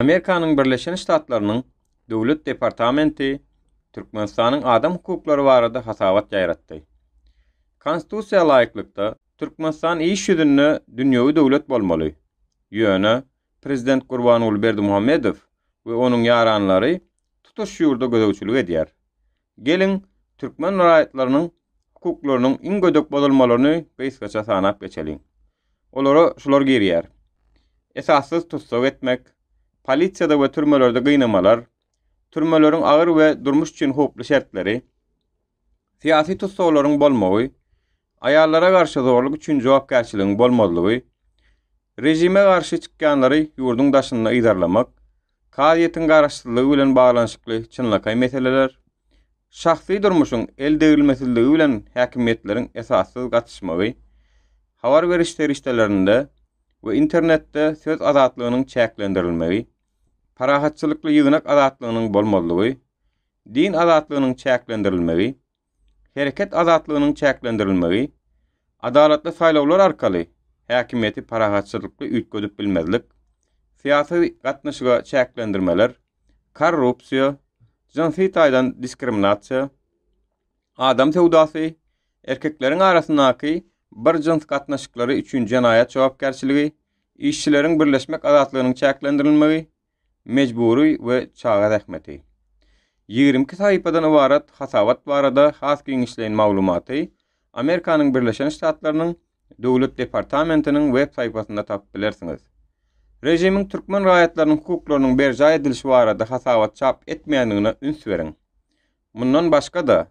Amerikanyň Birleşen Ştatlarynyň Döwlet departamenti Türkmenistanyň adam hukuklary barada hasabat ýaýratdy. Konstitusiýa laýyklykda, Türkmenistan iş ýüzünde dünýewi döwlet bolmaly. Ýöne, prezident Gurbanguly Berdimuhamedow we onuň ýaranlary tutuş ýurda gözegçilik edýär. Geliň, türkmen raýatlarynyň hukuklarynyň iň gödek bozulmalaryny gysgaça sanap geçeliň. Olara şular girýär, esassyz tussag etmek, polisiýada we türmelerde gynamalar, türmeleriň agyr we durmuş üçin howply şertleri, syýasy tussaglaryň bolmagy, aýallara garşy zorluk üçin jogapkärçiligiň bolmazlygy, režime garşy çykýanlary ýurduň daşynda yzarlamak, Kazyýetiň garaşsyzlygy bilen baglanyşykly çynlakaý meseleler, şahsy durmuşyň eldegrilmesizligi bilen häkimiýetleriň esassyz gatyşmagy, habar beriş serişdelerinde we internetde söz azatlygynyň çäklendirilmegi, parahatçylykly ýygnak azatlygynyň bolmazlygy, din azatlygynyň çäklendirilmegi, Hereket azatlygynyň çäklendirilmegi, adalatly saýlawlar arkaly häkimiýeti parahatçylykly üýtgedip bilmezlik, syýasy gatnaşyga çäklendirmeler, korrupsiýa, jynsy taýdan diskriminasiýa, adam söwdasy, erkekleriň arasyndaky bir jyns gatnaşyklary üçin jenaýat jogapkärçiligi, işçileriň birleşmek azatlygynyň çäklendirilmegi, mejbury we çaga zähmeti. Ýigrimi iki sahypadan ybarat hasabat barada has giňişleýin maglumaty Amerikanyň Birleşen Ştatlarynyň Döwlet departamentiniň web saýpasynda tapyp bilersiňiz. Režimiň türkmen raýatlarynyň hukuklarynyň berjaý edilişi barada hasabat çap etmeýändigine üns beriň. Mundan başga-da,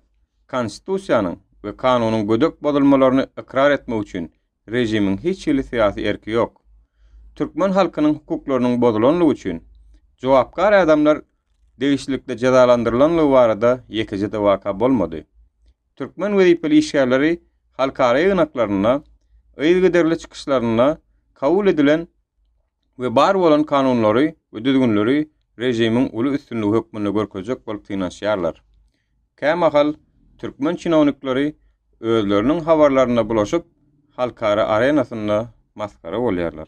Konstitusiýanyň we kanunyň gödek bozulmalaryny ykrar etmek üçin režimiň hiç hili syýasy erki ýok. Türkmen halkynyň hukuklarynyň bozulanlygy üçin jogapkar adamlar degişlilikde jezalandyrylanlygy barada ýekeje-de waka bolmady. Türkmen wezipeli işgärleri halkara ýygnaklarynda, yzygiderli çykyşlarynda kabul edilen, we bar bolan kanunlary we düzgünleri režimiň uly üstünligi hökmünde görkezjek bolup synanyşýarlar. Kämahal türkmen çinownikleri özleriniň habarlaryna bulaşyp, halkara arenasynda masgara bolýarlar.